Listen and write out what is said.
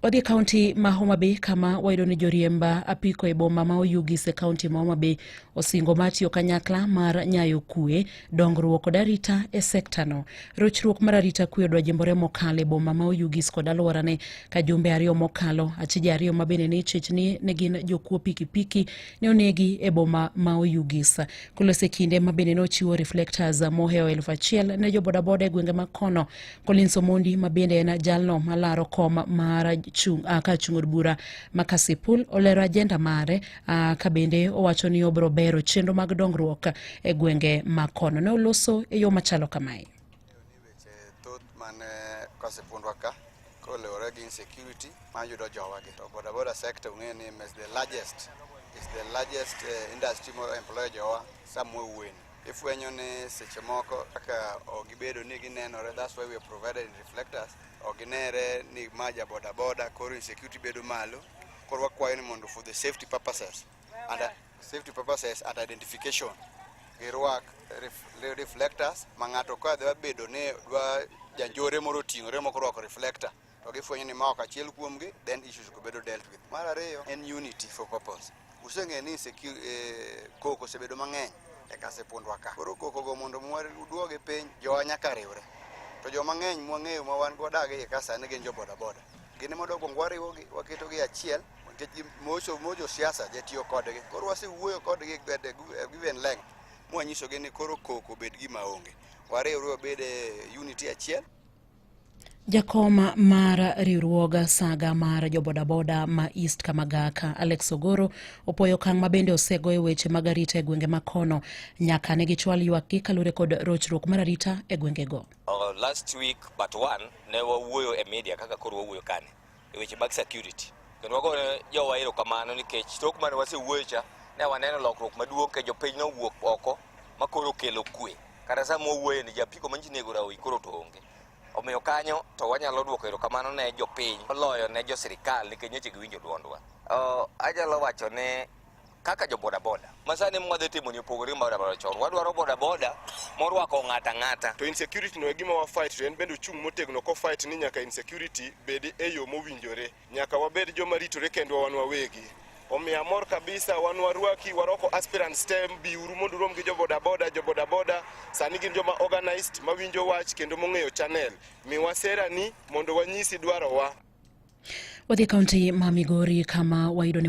Wadhi e kaunti ma Homa Bay kama wayudo ni joriemba apiko e boma ma Oyugis e kaunti ma Homa Bay osingo mar tiyo kanyakla mar nyayo kue, dongruok kod arita e sektano. Rochruok mar arita kue odwa jimbore mokalo e boma ma Oyugis kod alworane ka jumbe ariyo mokalo achije ariyo ma bende ne ichich ni ne gin jokuo pikipiki ne onegi e boma ma Oyugis. Kulos e kinde ma bende ne ochiwo reflectors mohewo elfu achiel ne jobodaboda e gwenge ma kono Collins Omondi ma bende en jalno malaro kom mar chung, uh, ka chung od bura ma Kasipul olero ajenda mare uh, ka bende owacho ni obiro bero chenro mag dongruok e gwenge ma kono. Ne oloso e yo machalo kamae. Kasipundwa ka kolewore gi insecurity mayudo jowagi to bodaboda sector ung'e ni is the largest is the largest uh, industry mo employ jowa somewhere weni ifwenyo ni seche moko kaka ok gibedo ni ginenore that's why we have provided reflectors ok ginere ni ma ja boda boda koro insecurity bedo malo koro wakwayo ni mondo for the safety purposes and uh, safety purposes and identification girwak ref- reflectors ma ng'ato ka dwa bedo ni dwa janjore moro oting'ore moko orwako reflector to gifwenyo ni ma ok achiel kuomgi then issues go bedo dealt with mar ariyo en unity for purpose useng'eyo ni secu- eh, koko osebedo mang'eny e kasepundwa ka koro kokogo mondo mwa- uduoge piny jowa nyaka riwre to joma ng'eny mwang'eyo ma wan godak e iye ka sani gin jo bodaboda gin ema dokwongo wariwogi waketogi e achiel nikech gi- mocho mojo siasa jatiyo kodgi koro wasewuoyo kodgi at a gu- a given length mwanyisogi ni koro koko obed gima onge wariwre wabed e unity achiel Jakom mar riwruog saga mar jobodaboda ma East Kamagaka Alex Ogoro opoyo okang' ma bende osego e weche mag arita e gwenge ma kono nyaka ne gichwal ywakgi kaluwore kod rochruok mar arita e gwengego. Uh, last week but one ne wawuoyo e media kaka koro wawuoyo kani e weche mag security. Kendo wago ne jowa erokamano nikech tok mane wasewuoyo cha ne waneno lokruok maduong' ke jopiny nowuok oko ma koro okelo kwe. Kata sama wawuoye ni japiko manji nego rawi koro to onge. Omiyo kanyo to wanyalo dwoko erokamano ne jopiny moloyo ne jo sirikal nikech nyocha giwinjo dwondwa. Oh, anyalo wacho ne kaka jo bodaboda masani mwadhi timo ni opogore gi bodaboda chon wadwaro bodaboda morwako ng'ata ng'ata to insecurity no e gima wa fight to en bende ochung' motegno ko fight ni nyaka insecurity bedi e yo mowinjore nyaka wabed joma ritore kendwa wan wawegi omiyo amor kabisa wan warwaki waroko aspirant stem biuru mondo urom gi jo bodaboda jo bodaboda sani gin joma organized mawinjo wach kendo mong'eyo channel miwa sera ni mondo wanyisi dwarowa wadhi kaunti ma migori kama wayudo ni